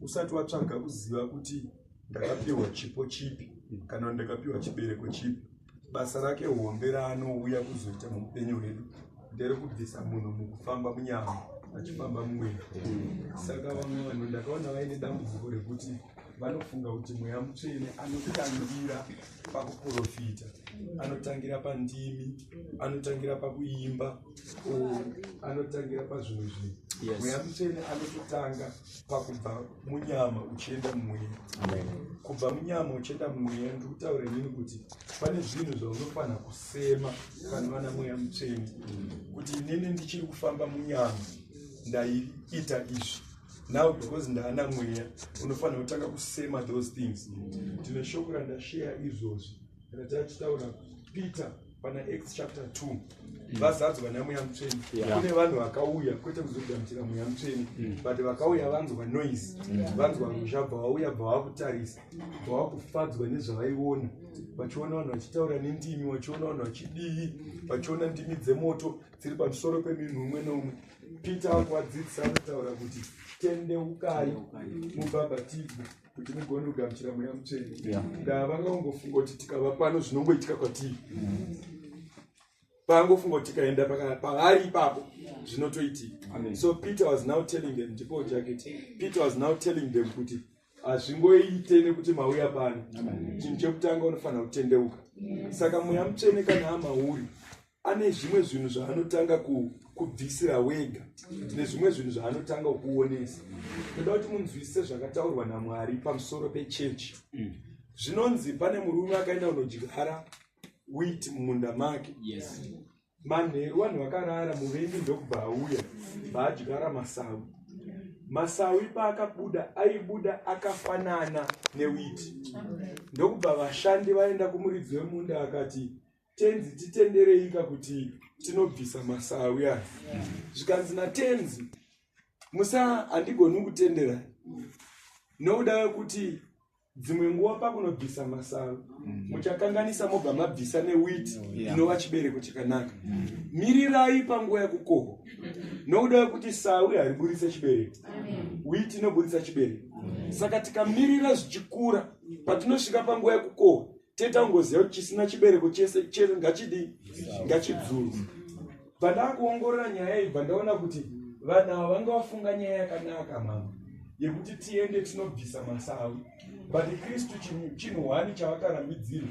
usati watsvaga kuziva kuti ndakapiwa chipo chipi kana ndakapiwa chibereko chipi basa rake hombe raanouya kuzoita muupenyu hwedu ndere kubvisa munhu mukufamba munyama achifamba mumwena saka vamwe vanhu ndakaona vaine dambudziko rekuti vanofunga kuti mweya mutsvene anotangira pakuprofita anotangira pandimi anotangira pakuimba anotangira pazvimwe zvinhu mweya mutsvene anototanga pakubva munyama uchienda mumweya kubva munyama uchienda mumweya ndikutaura inini kuti pane zvinhu zvaunofanira kusema kana vana mweya mutsvene kuti inini ndichiri kufamba munyama ndaiita izvi now because ndaana mweya unofanira kutanga kusema those things ndine shoko randasheya izvozvi ratachitaura peter pana acts chapter 2 mm. vazadzo vana mweya mutsveni kune vanhu vakauya kwete kuzogamuchira mweya mutsveni mm. but vakauya vanzwa noise vanzwa ruzha bva vauya bva vakutarisa bva vakufadzwa nezvavaiona vachiona vanhu vachitaura nendimi vachiona vanhu vachidii vachiona ndimi dzemoto dziri pamusoro peminhu umwe noumwe peter akuvadzidzisa anotaura kuti tendeukai mubhabhatidzwe kuti mugone kugamuchira mweya mutsvene ndaa vanga vangofunga kuti tikava pano zvinongoitika kwatii paangofunga kuti tikaenda paari ipapo zvinotoitika so peter was now telling them ndipo jacket peter was now telling them kuti hazvingoite nekuti mauya pano chinhu chekutanga unofanira kutendeuka saka mweya mutsvene kana amauri ane zvimwe zvinhu zvaanotanga kubvisira wega nezvimwe zvinhu zvaanotanga kuonesa toda kuti munzwisise zvakataurwa namwari pamusoro pechechi mm. zvinonzi pane murume akaenda kunodyara wit mumunda make manheru vanhu vakarara muvengi ndokubva auya vaadyara masawi masawi paakabuda aibuda akafanana newiti ndokubva vashandi vaenda kumuridzi wemunda akati tenzi titendereika kuti tinobvisa masawi aya zvikanzi natenzi musa handigoni kutendera nokuda wekuti dzimwe nguva pakunobvisa masawi mm. muchakanganisa mobva mabvisa newiti inova chibereko chakanaka mm. mirirai panguva yekukohwa nokuda wekuti sawi hariburitse chibereko witi inoburitsa chibereko saka tikamirira zvichikura patinosvika panguva yekukohwa teta ngoziva kuti chisina chibereko chese chese ngachidii ngachidzurwa bva ndakuongorora nyaya iyi bva ndaona kuti vanhu ava vanga vafunga nyaya yakanaka mama yekuti tiende tinobvisa masawi but kristu chinhu hwani chavakarambidzira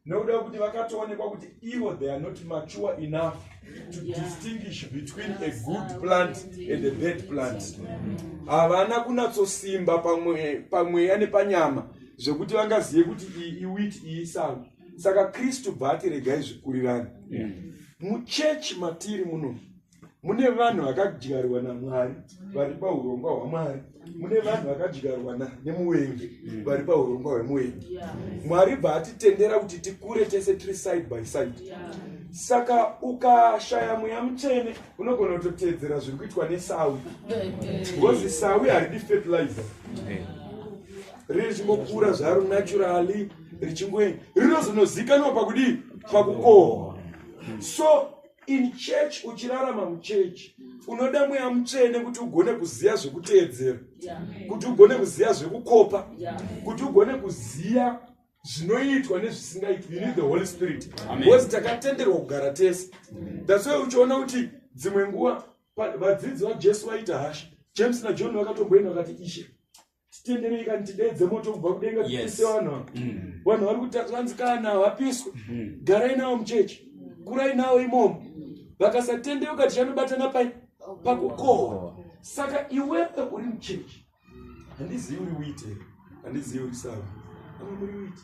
nokuda wekuti vakatoonekwa kuti ivo they are not mature enough to distinguish between a good plant and a bad plant havana kunatsosimba pamweya nepanyama zvekuti vangazive kuti iyi iwiti iyi sango saka kristu bva ati regai zvikurirani muchechi matiri muno mune vanhu vakadyarwa namwari vari paurongwa hwamwari mune vanhu vakadyarwa nemuvengi mm. vari paurongwa hwemuvengi mwari bva atitendera kuti tikure tese tiri side by side saka ukashaya mweya mutsvene unogona kutoteedzera zviri kuitwa nesawi bcause sawi haridi fertilizer riri richingokura zvaro naturally richingoi rinozonozikanwa pakudii pakukohwa so in church uchirarama muchechi unoda mweya mutsvene kuti ugone kuziva zvekuteedzera kuti ugone kuziva zvekukopa kuti ugone kuziva zvinoitwa nezvisingaitwi you need the holy spirit because takatenderwa kugara tese that's why uchiona kuti dzimwe nguva vadzidzi vajesu vaita hasha james najohn vakatomboenda vakati ishe titenderei kani tideedze moto kubva kudenga tipise vanhu ava mm. vanhu vari kutaanzi kana havapiswe mm. garai navo muchechi kurai navo imomo vakasatendeuka tichanobatana pai pakukohwa saka iwewe uri muchechi handizivi uri uite handizivi uri sava ava muri uite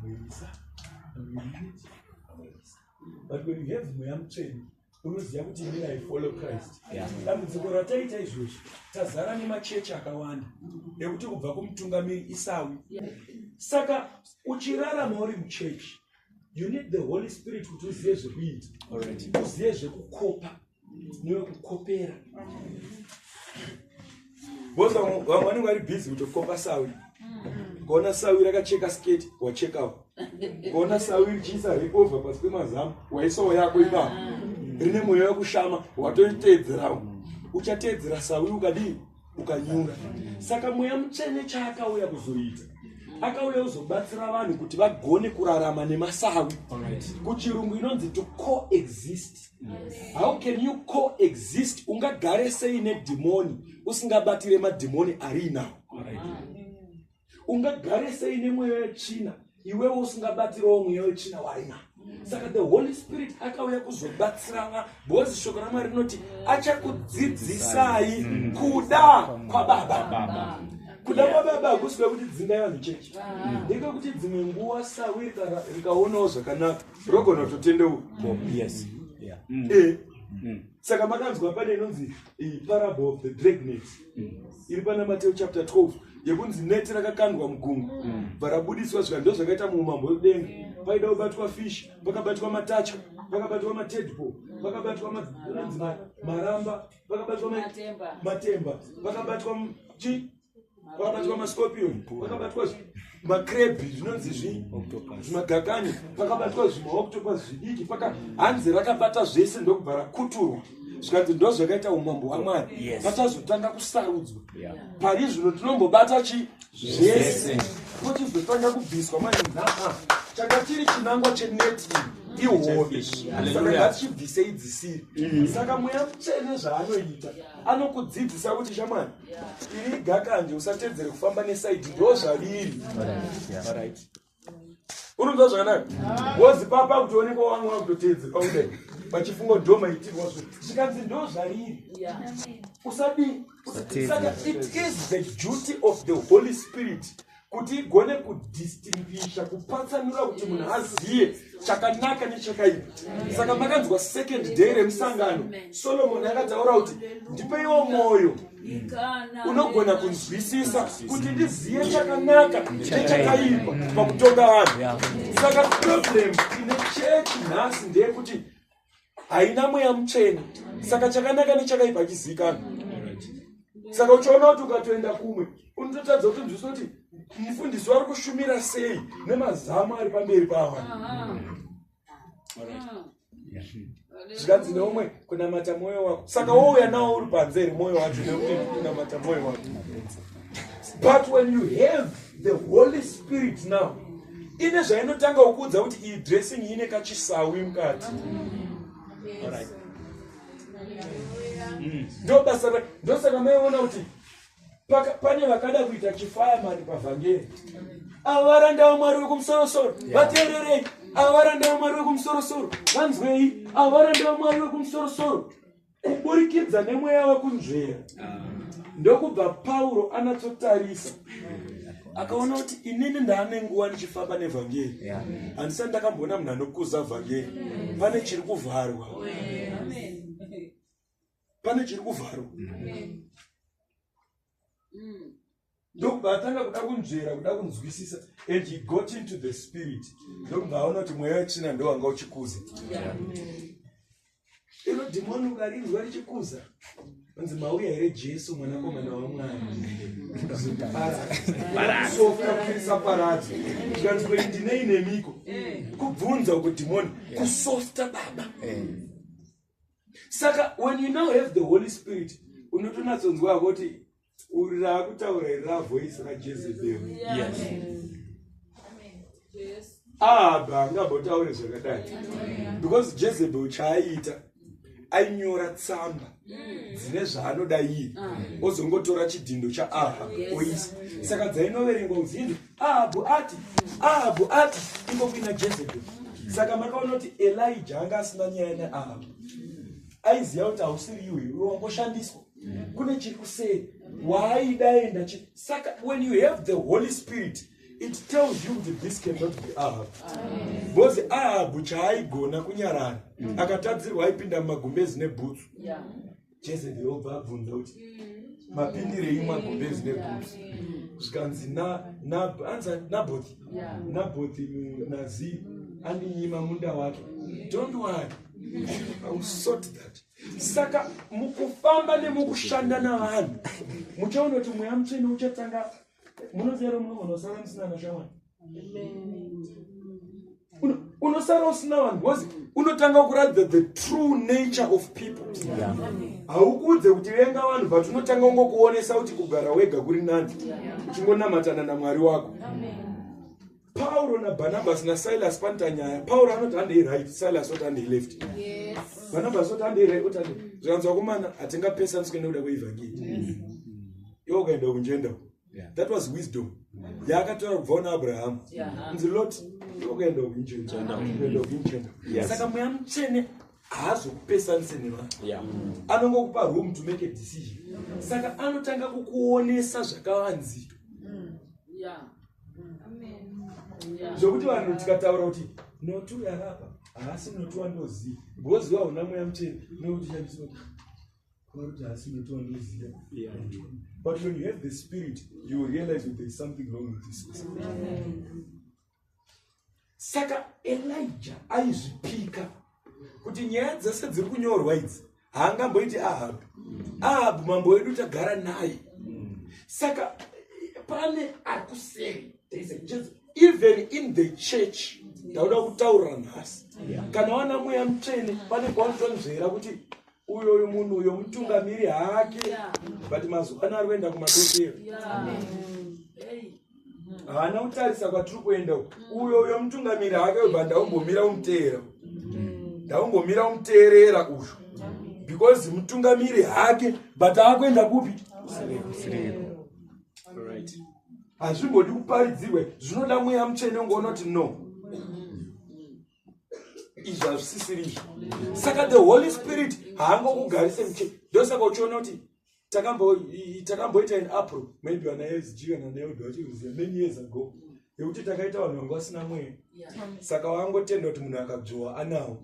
muisa muisa but when you have mweya mutsveni unoziva kuti ini i follow christ dambudziko rataita izvozvi tazara nemachechi akawanda ekuti kubva kumutungamiri isawi saka uchirarama uri muchechi you need the holy spirit kuti uzive zvekuita uzive zvekukopa newekukopera Boss vamwe vanenge vari busy kutokopa sawi. Mm-hmm. Kuona sawi rakacheka skate wachekawo. Kuona sawi richiisa recover pasi pemazamu waisawo yako ipapo. Mm-hmm. Rine mweya wekushama watoiteedzerawo. Uchateedzera sawi ukadii? Ukanyura. Saka mweya mutsvene chaakauya kuzoita akauya kuzobatsira vanhu kuti vagone kurarama nemasawi kuchirungu inonzi to coexist yes. how can you coexist ungagare sei nedhimoni usingabatire madhimoni ari inawo ungagare sei nemweya yechina iwewo usingabatirewo mweya wechina waina saka the holy spirit akauya kuzobatsirana because shoko ramwari rinoti achakudzidzisai kuda kwababa kuda kwababa hakusi kwekuti dzingai vanhu chechi ndekwekuti dzimwe nguva sawi rikaonawo zvakanaka rogona kutotendeuka yes yeah mm. eh mm. saka makanzwa pane inonzi parable of the drag net mm. iri pana mateo chapter 12 yekunzi neti rakakandwa mugungwa mm. varabudiswa zvika ndo zvakaita muumambo wekudenga paida kubatwa fish pakabatwa matacha pakabatwa matedpo pakabatwa maramba pakabatwa matemba pakabatwa chi pakabatwa mascorpion pakabatwa macrebi zvinonzi zvimagakani pakabatwa zvimaoctopus zvidiki paka hanzi rakabata zvese ndokubva rakuturwa zvikanzi ndo zvakaita umambo hwamwari vachazotanga kusarudzwa pari zvino tinombobata chi zvese kochizotanga kubviswa manje nhaka changa chiri chinangwa cheneti ihove saka ngatichibvisei dzisiri mm. saka mweya mutsvene zvaanoita anokudzidzisa kuti shamwari iri gakanje usatedzere kufamba nesaidi ndo zvaviri urinzwa zvakanaka wozi papa kuti onekwa wangu wakutotedzera ude vachifunga kuti ndomaitirwa zvo zvikanzi ndo zvariri usadii saka it is the duty of the holy spirit kuti igone kudistinguisha kupatsanura kuti munhu azive chakanaka nechakaipa saka makanzwa second day remusangano solomoni akataura kuti ndipeiwo mwoyo unogona kunzwisisa kuti ndizive chakanaka nechakaipa pakutonga vanhu saka problem ine chechi nhasi ndeyekuti haina mweya mutsvene saka chakanaka nechakaipa achizivikanwa saka uchiona kuti ukatoenda kumwe unototadza kuti nzwisa kuti mufundisi wari kushumira sei nemazamu ari pamberi pawa zvikanzi neumwe kunamata mwoyo wako saka wouya nawo uri panze here mwoyo wacho nekuti kunamata mwoyo wako but when you have the holy spirit now ine zvainotanga kukuudza kuti iyi dressing ine kachisawi mukati ndobasa mm. ndosaka maiona kuti pane vakada kuita chifaya mari pavhangeri ava varanda vamwari vekumusorosoro vateererei ava varanda vamwari vekumusorosoro vanzwei ava varanda vamwari vekumusorosoro kuburikidza nemweya wekunzvera ndokubva pauro anatsotarisa akaona kuti inini ndaane nguva ndichifamba nevhangeri handisati ndakamboona munhu anokuza vhangeri pane chiri kuvharwa pane chiri kuvharwa mm. ndokubva atanga kuda kunzvera kuda kunzwisisa and he got into the spirit mm. ndokubva aona kuti mweya wetsvina ndowanga uchikuza iro dhimoni ukarinzwa richikuza anzi mauya here jesu mwanakomana wamwari softapirisa paradzo tikanzwa ndinei nemiko kubvunza uko dhimoni kusofta baba saka when you now have the holy spirit unotonatsonzwa kuti uri raakutaura iri ravoisi rajezebhero aba angabotaure zvakadai because jezebhel chaaiita ainyora tsamba mm. dzine zvaanoda iye ozongotora chidhindo chaaha oisa saka dzainoverengwa uzinzi ahabhu ati ahabhu ati iko kuina jezebel saka makaona kuti elija anga asina nyaya neahabhu aiziva kuti hausiri iwe iwe wangoshandiswa kune chiri kuseri waaidaenda chi saka when you have the holy spirit it tells you kuti this cannot be ahabhu because ahabhu chaaigona kunyarara akatadzirwa aipinda mumagumbezi nebhutsu jezebheri obva abvunza kuti mapindirei magumbezi negotsi zvikanzi nabothi nabothi nazi andinyima munda wake don't worry ausort that saka mukufamba nemukushanda navanhu muchaona kuti mweya mutsvene uchatanga munozero munogonosara musina nashamwari unosara usina vanhu bcause unotanga kuratidza the true nature of people haukuudze yeah. kuti venga vanhu but unotanga ungokuonesa kuti kugara wega kuri nani uchingonamatana namwari wako pauro nabarnabas nasilas panoita nyaya pauro anoti andei right silas oti andei left yes. barnabas oti andei right oti andei zvikanzi vakomana hatingapesaniswe nekuda kweevhangeri yes. iwo ukaenda kunjenda that was wisdom yaakataura kubva una abrahamu nzi lot okaenda kuinjensaka mweya mutsvene haazokupesanise nevanhu anongokupa room to make a decision saka anotanga kukuonesa zvakavanzika mm. zvokuti vanhu tikataura kuti notu yarapa haasi notu wandoziva ngoziva huna mweya mutsvene nokuti shandisoti But when you have the spirit, you realize that there is something wrong with this person. Saka Elijah aizvipika kuti nyaya dzese dziri kunyorwa idzi haangamboiti Ahabu. Ahabu mambo wedu tagara naye. Saka pane akuseri there is a Jesus even in the church ndauda kutaurira nhasi kana wana mweya mutsvene pane kwaunotwanzvera kuti uyo uyu munhu uyo mutungamiri hake but mazuva ano ari kuenda kumadokero haana kutarisa kwatiri kuenda uyo uyo mutungamiri hake uyu but ndaumbomira umuteera ndaumbomira umuteerera uyu because mutungamiri hake but akuenda kupi hazvimbodi kuparidzirwe zvinoda mweya mutsvene ungoona kuti no izvi hazvisisiri izvi saka the holy spirit haangokugarise muche ndosaka uchiona kuti takamboita in april maybe ana sg kana neod vachiruziva many years ago yekuti takaita vanhu vanga vasina mweya saka wangotenda kuti munhu akabzowa anawo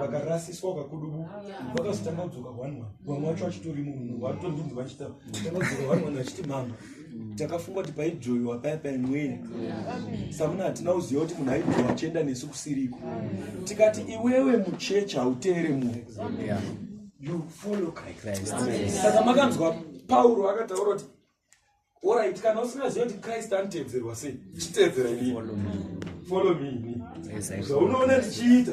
vakarasiswa vakakudubu vakazotanga kudzoka one one vamwe vacho vachitorimo munhu vatondinzi vachita tanga kudzoka one one vachiti mama mm. takafunga kuti paijoiwa paya paya mweya samuna hatina kuziva kuti munhu aijoiwa achienda nesu kusiriko tikati iwewe muchechi hauteere munhu saka makanzwa pauro akataura kuti orit kana usingaziva kuti krist anotevedzerwa sei chitevedzera ini follow me ini zvaunoona tichiita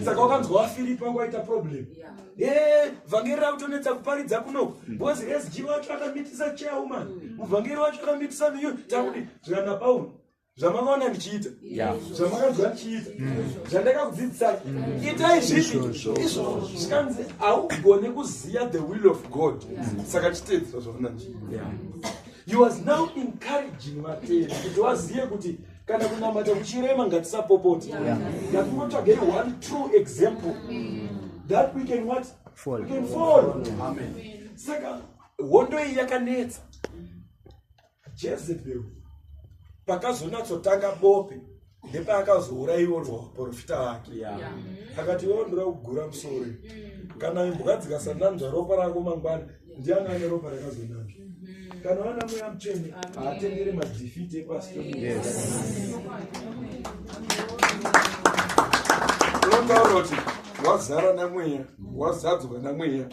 saka wakanzwa wafiripa kwaita problem yeah. Eh, vhangeri rakutonetsa kuparidza kuno hmm. because sg wacho akamitisa chairman hmm. muvhangeri wacho akamitisa miyu takuti zvikana pauro zvamakaona ndichiita zvamakanzwa ndichiita zvandakakudzidzisai itai zvinhu izvo zvikanzi haugone kuziva the will of god saka chiteedzisa zvaona ndichiita he was now encouraging vateri kuti wazive kuti kana kunamata kuchirema ngatisapopoti ngatingotsvagei one true example that we can what fall. We can fall. Amen. saka hondo iyi yakanetsa jezebel pakazonatsotanga bope ndepaakazouraiwa vaprofita vake akati iwo ndoda kugura musori mm. kana imbwa dzikasananzva ropa rako mangwana ndiani ane ropa rakazonaka mm-hmm. kana wana mweya mutsvene haatendere madhifiti epasi tonotaura kuti wazara namweya wazadzwa namweya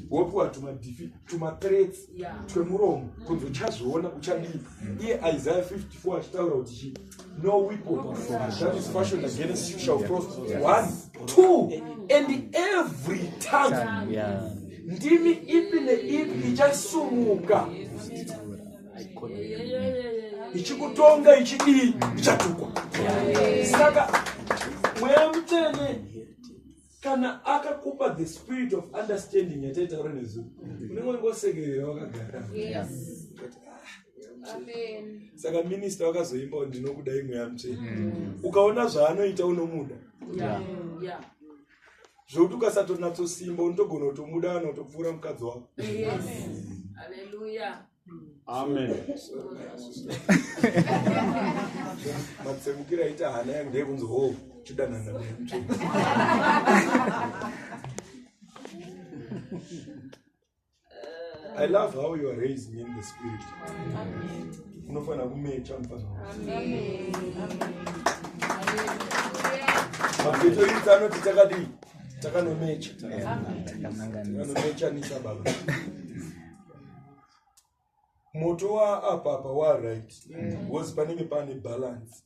wopiwa tumadhifi tumatrets twemuromo kunzi uchazviona uchadii iye isaya 54 achitaura kuti chii no weapon that is fashioned against you shall prosper one two and every time yeah. ndimi ipi neipi ichasumuka ichikutonga ichidii ichatukwa saka mweya mutsvene kana akakupa the spirit of understanding yataitaura nezuro unenge ungosekerera wakagara ah, saka minista wakazoimbawo ndinokuda imwe yamutsveni mm. ukaona zvaanoita unomuda zvokuti ukasatonatsosimba unotogona kutomuda kana utopfuura mukadzi wako amen matsemukira aita hana yangu ndeyekunzi ho chidanana nemutsvene I love how you are raised in the spirit. Unofana kumecha mfana. Amen. Mafito iri tano titakadi takanomecha. Takanomecha nisa baba. moto waapapa waright bcause mm. panenge pane balance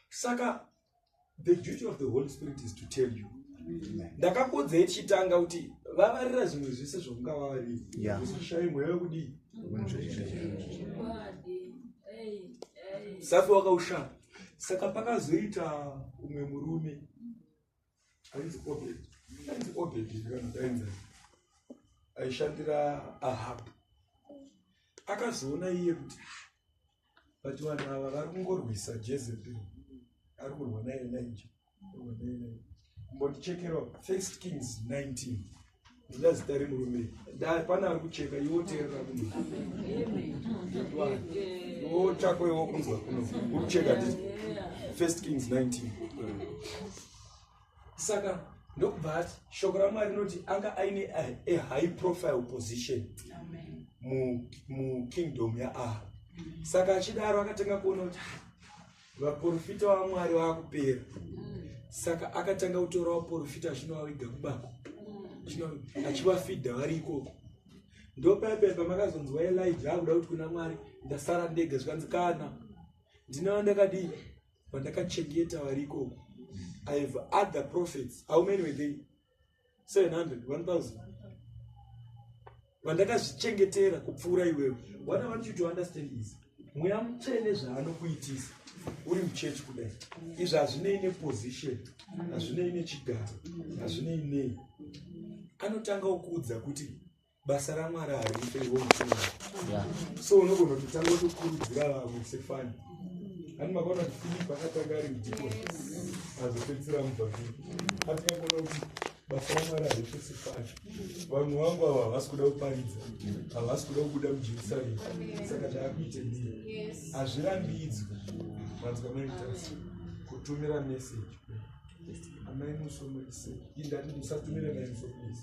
saka the duty of the holy spirit is to tell you ndakapodza yetichitanga kuti vavarira zvimwe zvese zvokunga vavaririusashai mweya wekudii safi wakaushaya saka pakazoita umwe murume ainzi obed ainzi obed ndikandainza aishandira ahab akazoona iye kuti but vanhu ava vari kungorwisa jezebel ari kurwa naye naija mbondichekerwa first kings 19 Ndoda zita remurume dai pana ari kucheka iwo teerera kuno iwo chako iwo kunzwa kuno uri kucheka ti first kings 19 saka ndokubva ati shoko ramwari rinoti anga aine a high profile position mukingdom mu yaaha saka achidaro akatanga kuona kuti vaporofita vamwari vakupera saka akatanga kutora vaporofita achinovaviga kubako achivafidha vari ikoko ndopaipai pamakazonzwa elija akuda kuti kuna mwari ndasara ndega zvikanzi kana ndine vandakadii vandakachengeta vari ikoko i have other prophets how many were they 700 1000 vandakazvichengetera kupfuura iwewe what i want you to understand is mweya mutsvene zvaanokuitisa uri muchechi kudai izvi hazvinei neposition hazvinei nechigaro hazvinei nei anotanga okuudza kuti basa ramwari harife iwo mutuma so unogona kutotanga kutokurudzira vamwe sefani ani makaona kuti filipi akatanga ari mudhiko azopedzisira mubhabhiri atingakuona kuti basa ramwari harife sefani vanhu vangu ava havasi kuda kuparidza havasi kuda kubuda mujerusarema saka taakuite ndiyo hazvirambidzwi vanzwa maitasi kutumira meseji amai musomoise indati musatumira naye musomoise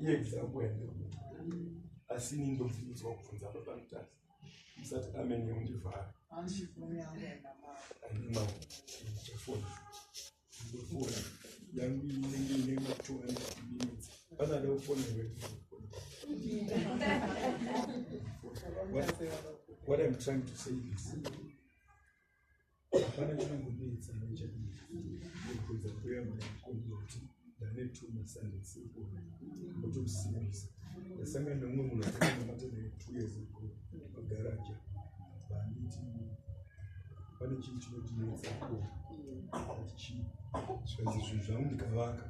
yekza kuenda asi ini ndofungidzwa kubvunza papanotasi musati amene undivhara aimauchafona ndofona yangu inenge ine matora nekubimitsa panada kufona what i'm trying to say is hapana chinongomisa nechekuudza kuya makomboti ndanetuma sandisiona kuti usimbisa ndasangana neumwe munhu akanamata naye two years ago pagaraja banditi pane chinhu chinotinetsa ko ati chii zvikanzi zvinhu zvangu ndikavaka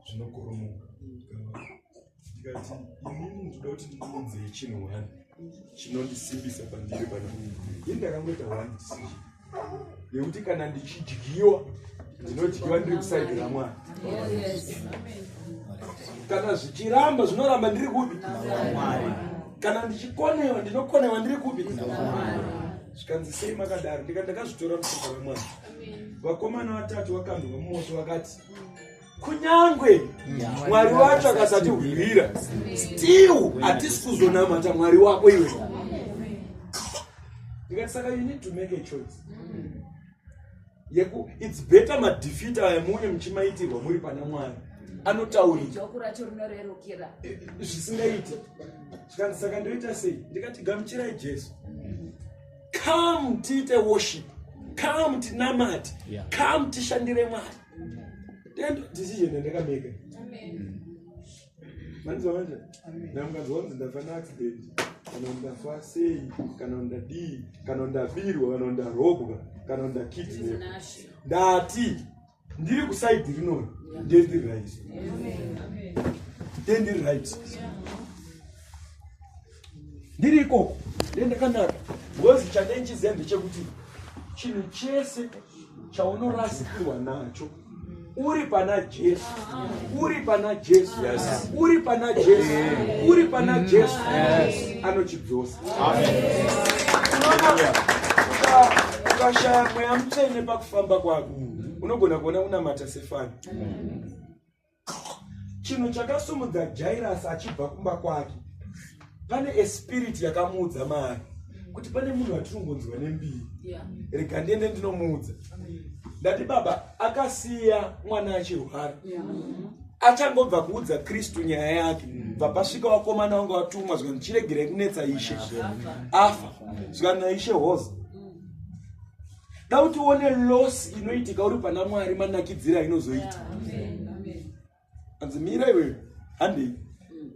zvinokoromoka ndikavaka ndikati inini ndinoda kuti ndiunzei chinhu wani chinondisimbisa pandiri pane munhu ini ndakangoita one decision yekuti kana ndichidyiwa ndinodyiwa ndiri kusaidi ramwana kana zvichiramba zvinoramba ndiri kupi kana ndichikonewa ndinokonewa ndiri kupi zvikanzi sei makadaro ndika ndakazvitora musoka ramwana vakomana vatatu vakanzwa mumosho vakati kunyange mwari wacho akasatihwira still hatisi kuzonamata mwari wako iwe ndikati saka you need to make a choice yeku its better madefeat aya muune muchimaitirwa muri pana mwari anotauriazvisingaiti eh, zvikanzi saka ndoita sei ndikati gamuchirai jesu come tiite worship come tinamati come tishandire mwari Then decision yandakameka. Amen. Manzwa manje? Na mukazwa kuti ndafa na accident kana ndafa sei kana ndadii kana ndabirwa kana ndarobwa kana ndakidnap. Ndati ndiri kuside rino ndiri right. Amen. Ndiri right. Yeah. ndiri ikoko ndendakanaka bcoz chanenjiziya ndechekuti chinhu chese chaunorasikirwa nacho uri pana jesu uri pana jesu uri pana jesu uri pana jesu anochidzosa ukashaya mweya mutsvene pakufamba kwako unogona kuona unamata sefani chinhu chakasumudza jairasi achibva kumba kwake pane espiriti yakamuudza mari kuti pane munhu watinongonzwa nembiri rega ndiende ndinomuudza ndati baba akasiya mwana achirwara achangobva kuudza kristu nyaya yake bva pasvika wakomana wange watumwa zvikanzi chiregerai kunetsa ishe afa zvikanzi naishe hoza da kuti uone loss inoitika uri pana mwari manakidzira inozoita anzi mira iweyo handei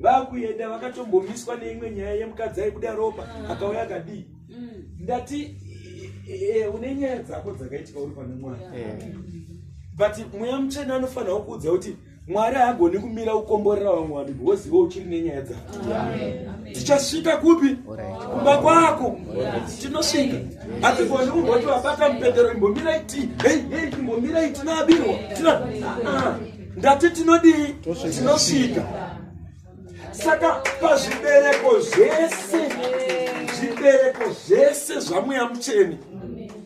vakuenda vakatombomiswa neimwe nyaya yemukadzi aibuda ropa mm. akauya akadii mm. ndati e, e, e, une nyaya dzako dzakaitika uri pane mwana but mweya mutsvene anofanirawo kuudza kuti mwari haagoni kumira kukomborera vamwe vanhu because iwe uchiri nenyaya dzako tichasvika kupi kumba kwako tinosvika hatigoni kumboti vabata mupendero imbomirai ti hei hei imbomirai tinaabirwa ah, ndati tinodii tinosvika saka pazvibereko zvese zvibereko zvese zvamweya mucheni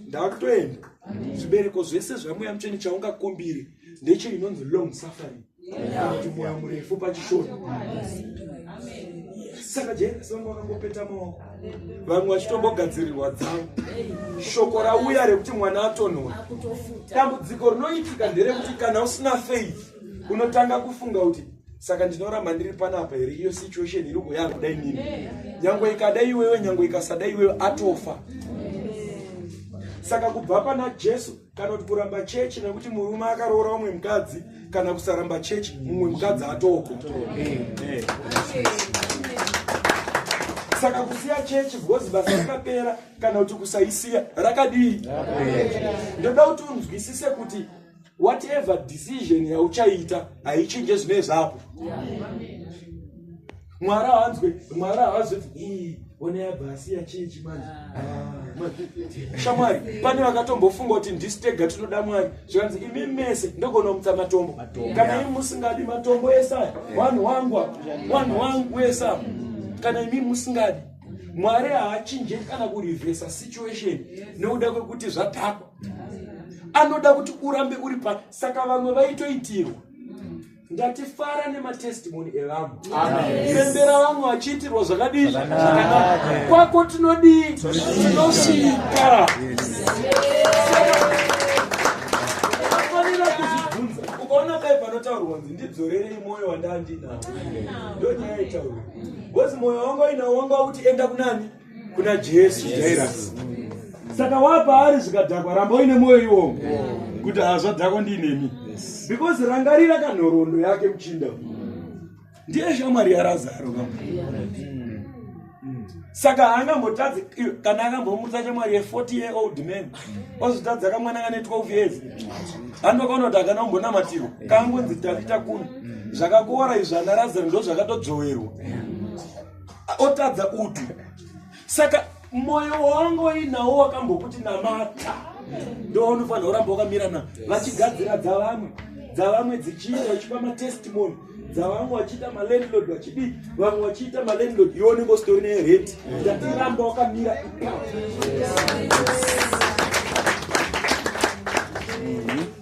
ndakutoenda zvibereko zvese zvamweya mucheni chaungakumbiri ndicho inonzi long suffering kuti mwoyo murefu pachishona saka jesu vanga vakangopeta maoko vamwe vachitombogadzirirwa dzavo shoko rauya rekuti mwana atonhora dambudziko rinoitika nderekuti kana usina faith unotanga kufunga kuti saka ndinoramba ndiri panapa here iyo situation iri kuya kudai nini nyange ikada iwewe nyange ikasada iwewe atofa saka kubva pana jesu kana kuti kuramba chechi nekuti murume akaroora umwe mukadzi kana kusaramba chechi mumwe mukadzi atoko saka kusiya chechi because basa rakapera kana kuti kusaisiya rakadii ndoda kuti unzwisise kuti whatever decision yauchaita haichinje zvinezvapo yeah. mwari haanzwe mwari haazoti ii onai abva asiya chii chimanje ah. ah, shamwari pane vakatombofunga kuti ndisi tega tinoda mwari zvikanzi imi mese ndogona kumutsa matombo kana imi musingadi matombo ese aya wanhu wangu wanhu wangu ese apa kana imi musingadi mwari haachinje kana kurivhesa situation nekuda kwekuti zvatakwa anoda kuti urambe uri pa saka vamwe vaitoitirwa ngatifara nematestimoni evamwe pembera vamwe vachiitirwa zvakadii zvakanaka kwako tinodii tinosvika afanira kuzvibvunza ukaona kai panotaurwa kunzi ndidzorerei mwoyo wandandinawo ndonyaya itaurwa bcoz mwoyo wanga uinawo wanga wakuti enda kunani kuna jesu jairasi saka wapaari zvikadhakwa ramba uine mwoyo iwomo kuti hazvadhakwa ndiinemi because rangarira kanhoroondo yake muchinda ndiye shamwari yarazaro ka saka haangambotadzi kana akambomutsa chamwari ye40 year old man ozvitadza kamwana kane 12 years andokaona kuti akana kumbonamatirwa kangonzi tavita kuno zvakakora izvi anaradzani ndo zvakatodzowerwa otadza kuti saka moyo wangu wainawo wakambokuti namata ndowaunofanira kuramba wakamira na vachigadzira dzavamwe dzavamwe dzichiita uchipa matestimony dzavamwe vachiita malandlord vachidii vamwe vachiita malandlord iwo unenge usitori nereti ndatiramba wakamira ipapo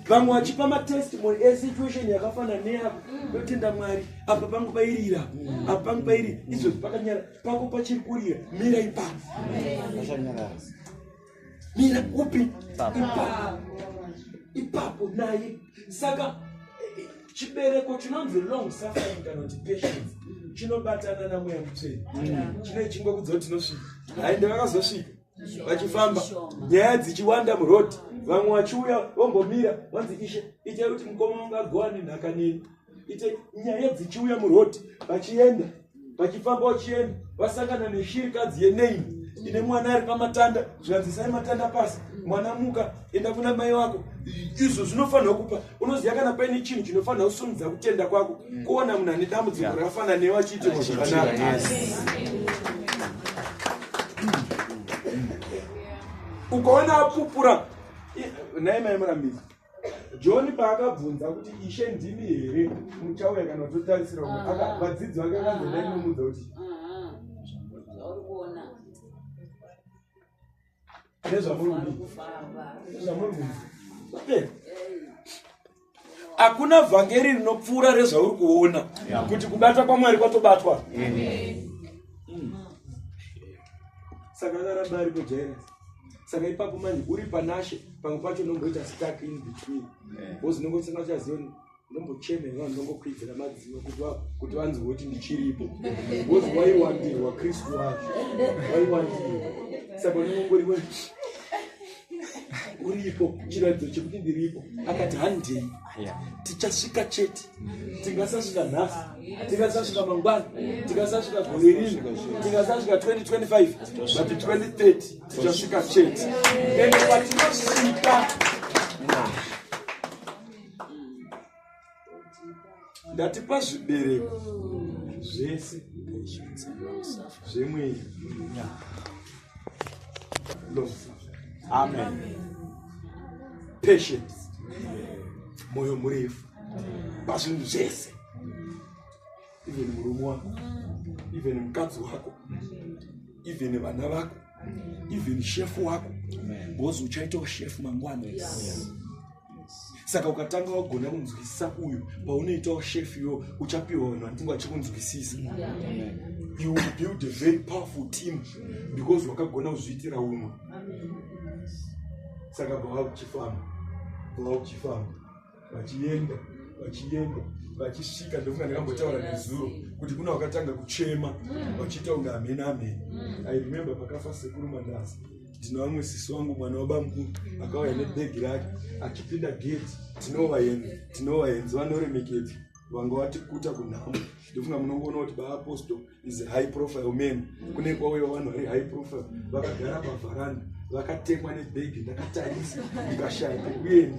vamwe vachipa matestimony esituation yakafanana neyako yotenda mwari apa pangu pairira apa pangu pairi izvozvi pakanyara pako pachiri kurira mira ipapo mira upi ipapo ipapo naye saka chibereko chinonzi long suffering kana kuti patience chinobatana namweya mutsveni chine chingwa kudzoti tinosvika haende vakazosvika vachifamba nyaya dzichiwanda muroad vamwe vachiuya vombomira vanzi ishe itai kuti mukoma ungagowa nenhaka neni ite nyaya dzichiuya muroad vachienda vachifamba vachienda vasangana neshirikadzi yenaini ine mwana ari pamatanda zvikanzisai matanda pasi mwana muka enda kuna mai wako izvo zvinofanira kupa unoziva kana paine chinhu chinofanira kusumudza kutenda kwako mm. kuona munhu ane dambudziko yeah. rakafana newe achiitirwa zvakanaka ukaona apupura nhai mai murambidzi john paakabvunza kuti ishe ndimi here muchauya kana kutotarisira umwe ah. vadzidzi vake vakanzodai nomudza ah. kuti hakuna vhangeri rinopfuura rezvauri kuona kuti kubatwa kwamwari kwatobatwa saka akaramba ari kujairisa saka ipapo manje uri panashe pamwe pacho unomboita stack in between bcause unongosanga uchazioni unombochemera vanhu unongokwidzira madzino kuti kuti vanzi voti ndichiripo bcause waiwandirwa kristu wacho waiwandirwa saka unongongori uripo chiratidzo chekuti ndiripo akati handei tichasvika chete tingasasvika nhasi tingasasvika mangwana tingasasvika gore rino tingasasvika 2025 but 2030 tichasvika chete and patinosvika ndatipa zvibereko zvese zvemweya moyo murefu pazvinhu zvese even murume wako even mukadzi wako even vana vako even shefu wako because uchaitawo shefu mangwana yes. saka ukatanga wagona kunzwisisa uyu paunoitawo shef yo uchapiwa vanhu vanenge vachikunzwisisa you will build a very powerful team because wakagona kuzviitira umwe saka bava kuchifamba bava kuchifamba vachienda vachienda vachisvika ndofunga ndakambotaura nezuro kuti kuna wakatanga kuchema vachiita kunge amheni amheni i remember pakafa sekuru mandasa ndina vamwe sisi wangu mwana wabamukuru akauya nebhegi rake achipinda geti tinovaenzi tinovaenzi vanoremekedza vanga vatikuta kunhamo ndofunga munongoona kuti baapostle is high profile man kune kwauya vanhu vari high profile vakagara pavharanda vakatekwa nebhegi ndakatarisa ndikashaya pekuenda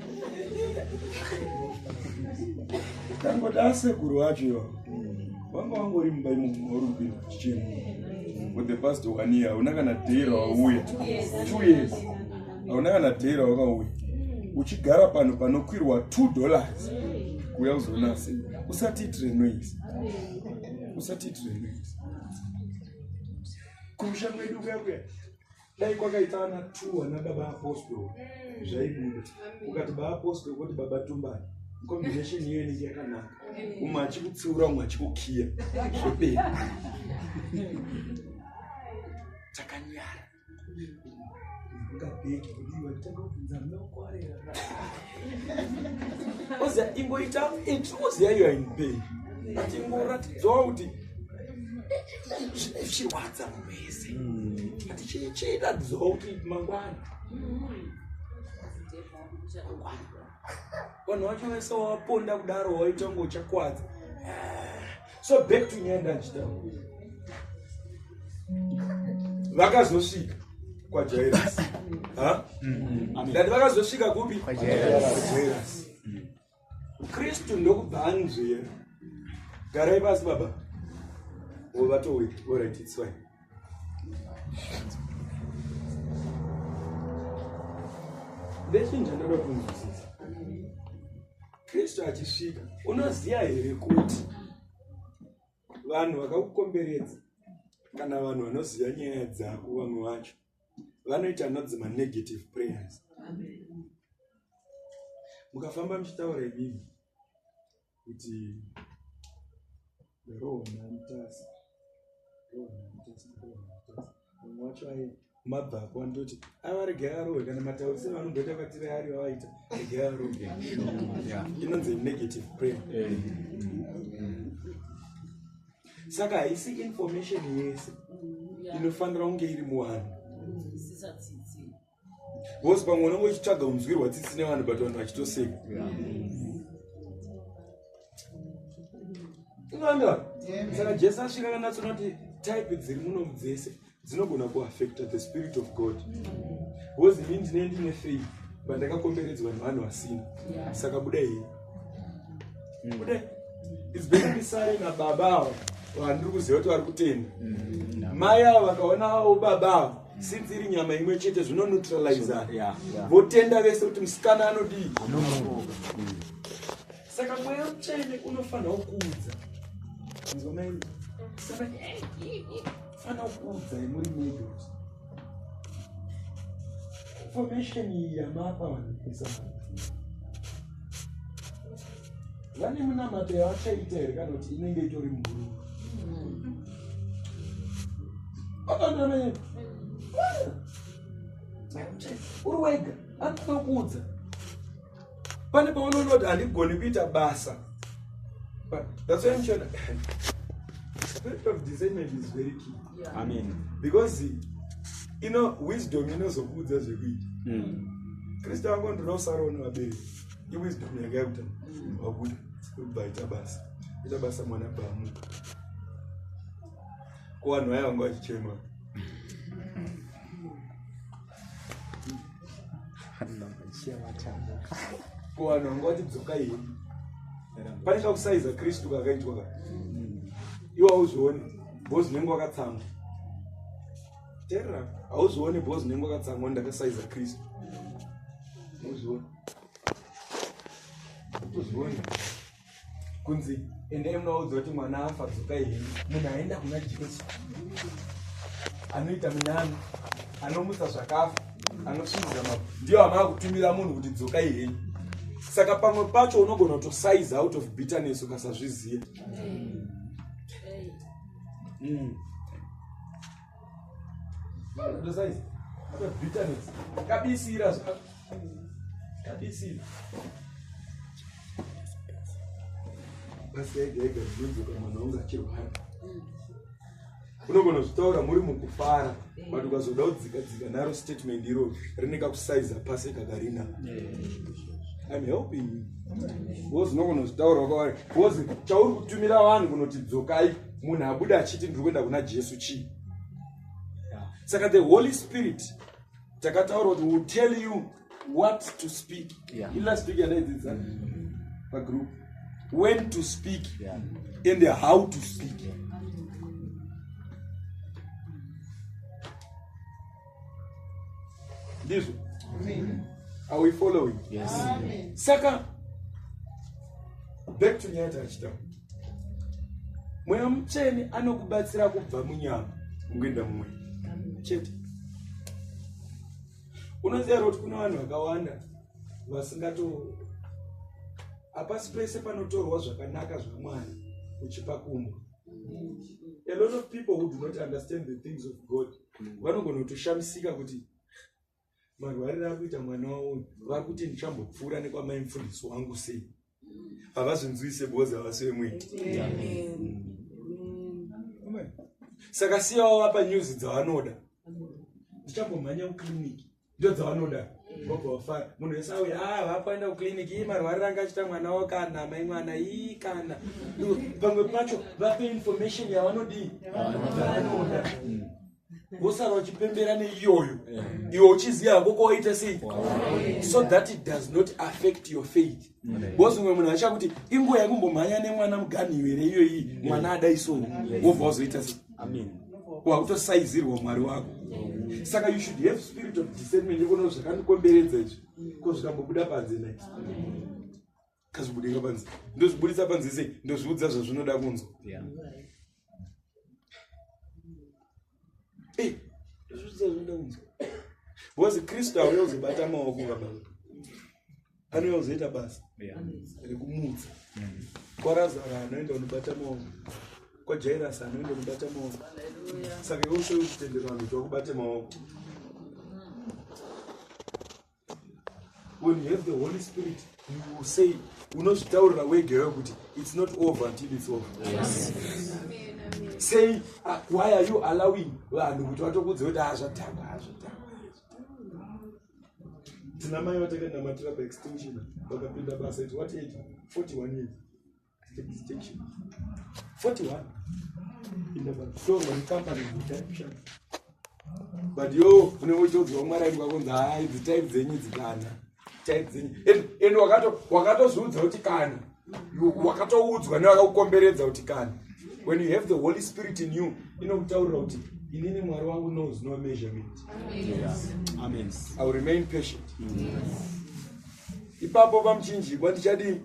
Tangoda asekuru wacho iwa. Wanga wangori mumba imo mwauri kupinda chichemo. For the past one year, hauna kana day rawauya. Two years. Hauna kana day rawakauya. Uchigara pano panokwirwa two dollars. Kuya uzoona asi. Usati itire noise. Usati itire noise. Kumusha kwedu kuya kuya. dai kwakaita ana two ana baba apostol mm. zvaibuda ukati baba apostol koti baba tumbani combination iyo inenge yakanaka umwe achikutsiura umwe achikukiya zvopei takanyara ngabheki kudiwa tanga kubvunza mnokwarera oziva ingoita iti oziva iyo in pain but ingoratidzwawo kuti zvichirwadza munhu wese but chiratidzawo kuti mangwana vanhu vacho vese waponda kudaro waita ngo uchakwadza so back to nyaya ndandichitaura vakazosvika kwajairasi ndati vakazosvika kupi kwajairasi kristu ndokubva anzvera garai pasi baba ovatoi orit its fine ndechinja ndoda kunzwisisa kristu achisvika unoziva here kuti vanhu vakakukomberedza kana vanhu vanoziva nyaya dzako vamwe vacho vanoita anodzi manegative prayers mukafamba muchitaura imimi kuti roho namutasa roho namutasa roho namutasa mabva apo andoti avarege arowe kana mataurise vanomboita vatire ari vavaita rege arowe inonzi negative prayer eh. saka haisi information yese inofanira kunge iri muwanhu bcause pamwe unenge uchitsvaga unzwirwa tsitsi nevanhu but vanhu vachitoseka unganda saka jesu asvika kanatsoona kuti type dziri muno dzese dzinogona kuaffecta the spirit of god bcause ini ndine ndine free but ndakakomberedzwa nevanhu vasina saka buda hii mm. buda its better ndisare nababa avo vandiri kuziva kuti vari kutenda mm. mai avo vakaona avo baba avo since iri nyama imwe chete zvino neutralizer votenda vese kuti musikana anodii saka mweya mutsvene unofanirwa kuudza fana kuudza imuri medo information iyi yamapa vanhu pesa vane munamato yavachaita here kana kuti inenge itori mhuru akanamene uri wega anoda kuudza pane paunoona kuti handigoni kuita basa that's why mchona spirit of discernment is very key yeah. amen because you know wisdom inozokuudza zvekuita mm. kristu ango ndinosaroona vabereki iwisdom yake yakuta wabuda kubva ita basa ita basa mwana baamuka ko vanhu vaya vanga vachichema ko vanhu vanga vachidzoka iyi pane kakusaiza kristu kakaitwa ka iwe hauzvioni bho zvinenge wakatsamwa terera hauzvioni bho zvinenge wakatsamwa ndakasaiza kristu muzviona kunzi endai munaudza kuti mwana afa dzokai hei munhu aenda kuna jesu anoita minyano anomutsa zvakafa anosviriza ma ndiyo amava kutumira munhu kuti dzokai hei saka pamwe pacho unogona kutosize out of bitterness ukasazviziva mm. kabisira kabisira basi ega ega zvinodzoka mwana wangu achirwara unogona zvitaura muri mukufara but ukazoda kudzika dzika naro statement iro rine kakusaiza pasi kakarina im helping you bcause unogona zvitaura wakavari bcause chauri kutumira vanhu kunoti dzokai munhu abude achiti ndiri kuenda kuna jesu chii saka the holy spirit takataura kuti will tell you what to speak ilast week yandaidzidza pagroup when to speak and how to speak yeah. ndizvo are we following yes. saka back to nyaya tachitaura mweya mutsvene anokubatsira kubva munyama ungoenda mumwe chete unoziva kuti kune vanhu vakawanda vasingato hapasi pese panotorwa zvakanaka zvamwari uchipa kumwe a lot of people who do not understand the things of god vanogona kutoshamisika kuti marwariro akuita mwana wavo vakuti ndichambopfuura nekwamai mufundisi wangu sei havazonzwise boza vasi vemwene saka siyavo vapa nyuzi dzavanoda ndichambomhanya kucliniki ndo dzavanoda vobva vafara munhu wese auya a ah, vapaenda kuclinic ii marwariro anga achita mwana wo kana mai mwana ii kana pamwe pacho vape information yavanodii yavanoda wosara uchipembera neiyoyo iwe uchiziva hako kwawaita sei so that it does not affect your faith bcause umwe munhu acha kuti inguva yekumbomhanya nemwana muganhiyo here iyoyi mm. mwana adaisoni mm. wobva wazoita se wakutosaizirwa mwari wako mm. saka you should have spirit of discernment yekuona zvakandikomberedza izvi ko zvikambobuda panze na kazvibudika panze ndozvibudisa panze sei ndozviudza zvazvinoda kunzwa Hey, because kristu auya uzobata maoko baba anouya uzoita basa rekumutsa kwarazara anoenda unobata maoko kwajairasi anoenda unobata maoko saka iwe ushoyo kutendera vanhu kuti wakubate maoko when you have the holy spirit you say unozvitaurira wega iwe kuti it's not over until it's over yes. say uh, why are you allowing vanhu kuti vatokudze kuti hazvatamba ah, hazvatamba tina mai vatakainamatira paextinction vakapinda basa it what age 41 years but yo unenge uchitoziva mwari aidi kwakonzi hai dzitype dzenyu dzikana type dzenyu and wakatozviudza kuti kana wakatoudzwa nevakakukomberedza kuti kana when you have the holy spirit in you inokutaurira kuti inini mwari wangu knows no measurement amen i will remain patient ipapo pamuchinjikwa ndichadii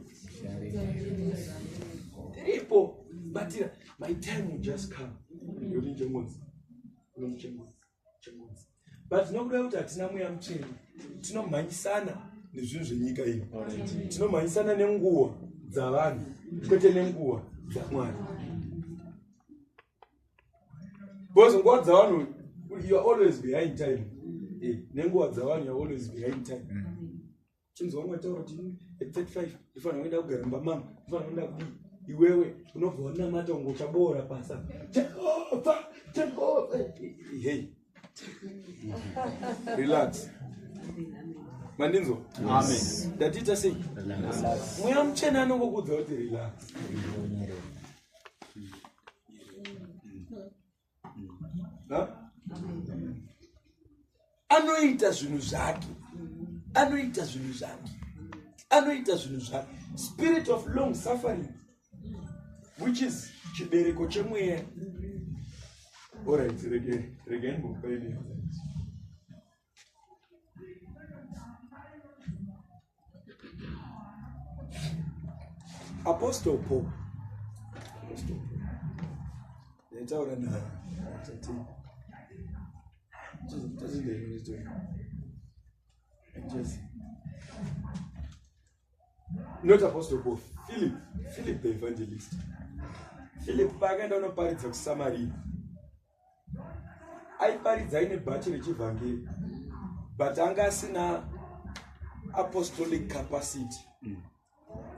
tiripo batira my time will just come yoti njengonzi unomuchengonzi chengonzi but nokuda kuti hatina mweya muchena tinomhanyisana nezvinhu zvenyika ino tinomhanyisana nenguva dzavanhu kwete nenguva dzamwari because nguva dzavanhu youare always behind time eh, nenguva dzavanhu youare always behind time mm. chinzi wangu ataura kuti at 35 ndifanira kuenda kugara mumba mama ndifanira kuenda kudii iwewe unobva wanamata ungo uchaboora pasa jehova jehova hey relax mandinzwa amen ndatiita sei mweya muchena anongokudza kuti relax anoita zvinhu zvake anoita zvinhu zvake anoita zvinhu zvake spirit of long suffering which is chibereko chemweya orit rege rege imbokupaine Apostle Paul. Apostle Paul. Nitaura na tati. Just just the minute. Just not apostle paul philip philip the evangelist philip paakaenda unoparidza kusamaria aiparidza aine bhachi rechivhangeri but anga asina apostolic capacity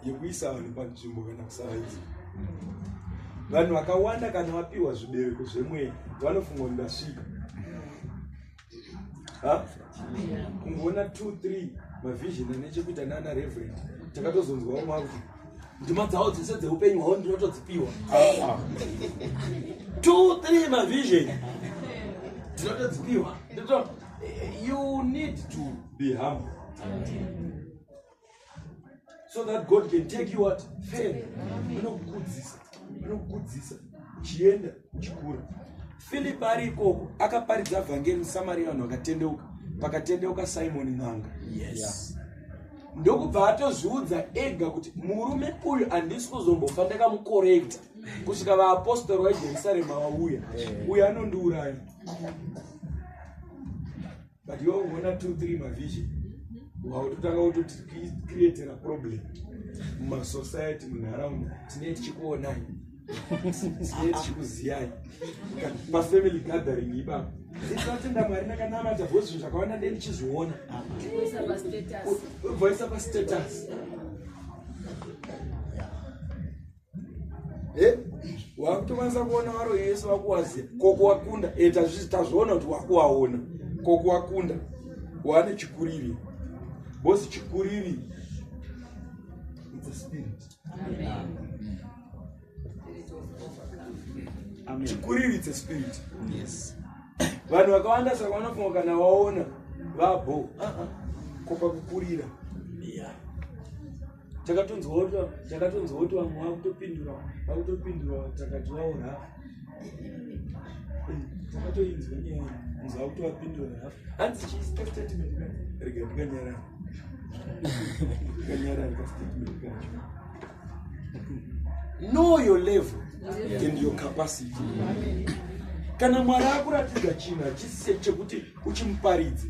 yekuisa vanhu panzvimbo kana kusavaisa vanhu vakawanda kana vapiwa zvibereko zvemweya vanofunga kuti ndasvika kungoona two three mavision ane chekuita nana reverend takatozonzwawo makuti ndima dzawo dzese dzeupenyu hwavo ndinotodzipiwa two three mavision ndinotodzipiwa you need to be humble so that god can take you what fail anokukudzisa anokukudzisa uchienda uchikura filipi ari ikoko akaparidza vhangeri musamaria vanhu vakatendeuka pakatendeuka simoni n'anga yes ndokubva atozviudza ega kuti murume uyu handisi kuzombofa ndakamukorekta kusvika vaapostori vajerusalema vauya uyo anondiuraya but iwe uona two three mavision wautotanga kutocreatera problem mumasociety munharaunda tinee tichikuonai tinee tichikuziyai pafamily gathering ipapo isatenda mwari ndakanamata bho zvinhu zvakawanda nde ndichizviona voisa pastatus eh? wakutokwanisa kuona varoyi vese vakuwaziva kokuwakunda e eh, tazviona kuti wakuwaona kokuwakunda wane chikuriri bosi chikuriri chikuriri it's a spirit yes vanhu vakawanda saka vanofunga kana vaona vabho ah, ah, kopa kukurira yeah. takatonzwa takatonzwa kuti vamwe vakutopindura vakutopindura takadyiwawo rafu takatoinzwa nyaya nzi vakutowapindura rafu hanzi chiisika statement ka rega ndikanyarara ndikanyarara ka statement kacho know your level and your capacity kana mwari akuratidza chinhu hachisi chekuti uchimuparidza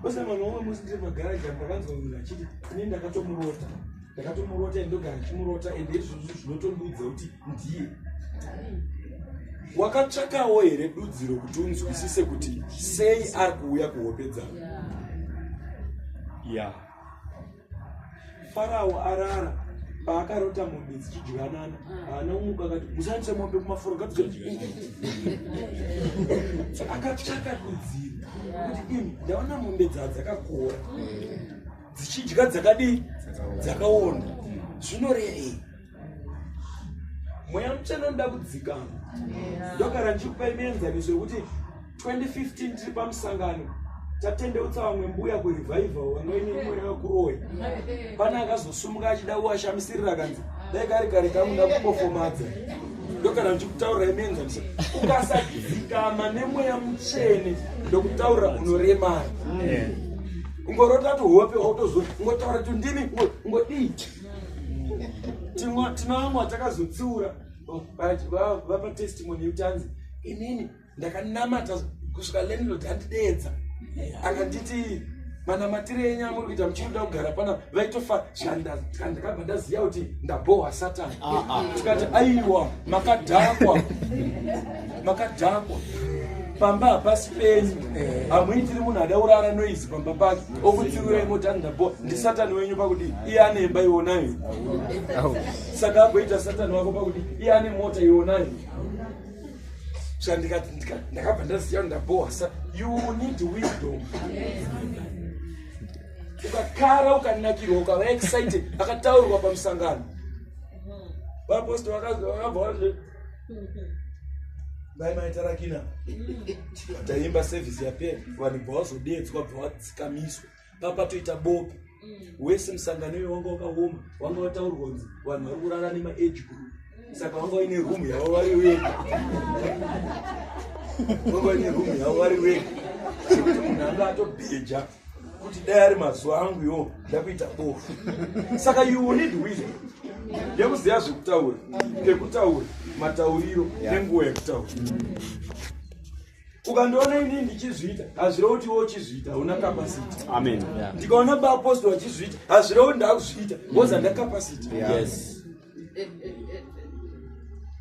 osana vanhu vamwe musi ndiri magaraji apo akanzwa munhu achiti ini ndakatomurota ndakatomurota and ndogara chimurota and izvozvo zvinotondiudza kuti ndiye wakatsvakawo here dudziro kuti unzwisise kuti sei ari kuuya kuhope dzavo ya yeah. Farao arara paakarota mombe dzichidyanana haana umuka akati mushandise mombe kumafuro akatshaka kudzira kuti imi ndaona mombe dzaa dzakakora dzichidya dzakadii dzakaona zvinorevei mweya mutsvene unoda kudzikama ndogara ndichikupa imienzaniso yekuti 2015 tiri pamusangano tatendeutsa vamwe mbuya kurevival vamweni mweya wekuroya pane akazosumuka achida kuwashamisirira kanzi dai kari kare kamuda kupofomadza ndogara ndichikutaurira imienzaniso ukasadzikama nemweya mutsvene ndokutaurira unoremara ungorota tuhope otozo ungotaura tundimi ungodii tinovamwa takazotsiura vapa testimony yekuti anzi inini ndakanamata kusvika landlord andideedza akanditi manamatire enyu amuri kuita muchirikuda kugara pana vaitofa ndakabva ndaziva kuti ndabohwa satani ah, ah. tikati aiwa makadhakwa makadhakwa pamba hapasi penyu eh. hamuitiri munhu ada urara noise pamba pake okutsirurai motandapo ndisatani wenyu pakuti iye ane imba ionayo saka agoita satani wako pakuti iye ane mota ionayo sandikati ndakabva ndaziva ndabowa sa you need wisdom ukakara ukanakirwa ukava excited akataurwa pamusangano vapostori vakabva dai maita rakina vataimba sevhisi yapera vanhu bva vazodeedzwa bva vadzikamiswa papatoita bope mm. wese musangano iwe wanga wakaoma wanga wataurwa nzi vanhu vari kurara nemaage group mm. saka wanga waine rumu yavo vari wega wanga waine rumu yavo vari wega sekuti munhu anga atobheja kuti dai ari mazuva angu yo ndakuita bofu saka you need wisdom yekuziva zvekutaura pekutaura matauriro nenguva yekutaura ukandiona inii ndichizviita hazvireva kuti iwe uchizviita hauna kapasiti amen ndikaona baapostora achizviita hazvireva kuti ndakuzviita woza ndakapasiti yes.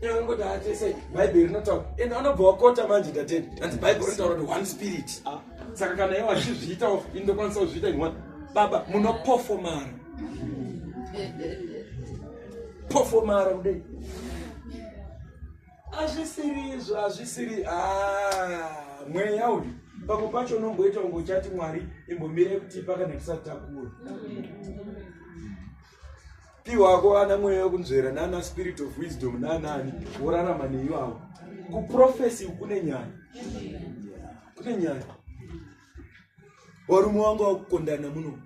Unangoti atese Bible rinotaura and anobva wakota manje tatenda and Bible rinotaura kuti one spirit. Ah. Saka kana iwe wachizviita off inde kwanisa kuzviita in one. Baba muno performer. Performer kudai. Azvisiri izvo azvisiri ah mweya uyu pamwe pacho unomboita ungochati mwari imbomire kuti pakanakisa takura. piwako ana mweya wekunzvera nana spirit of wisdom nanani worarama neivavo kuprofesi kune nyaya kune nyaya varume vanga vakukondana muno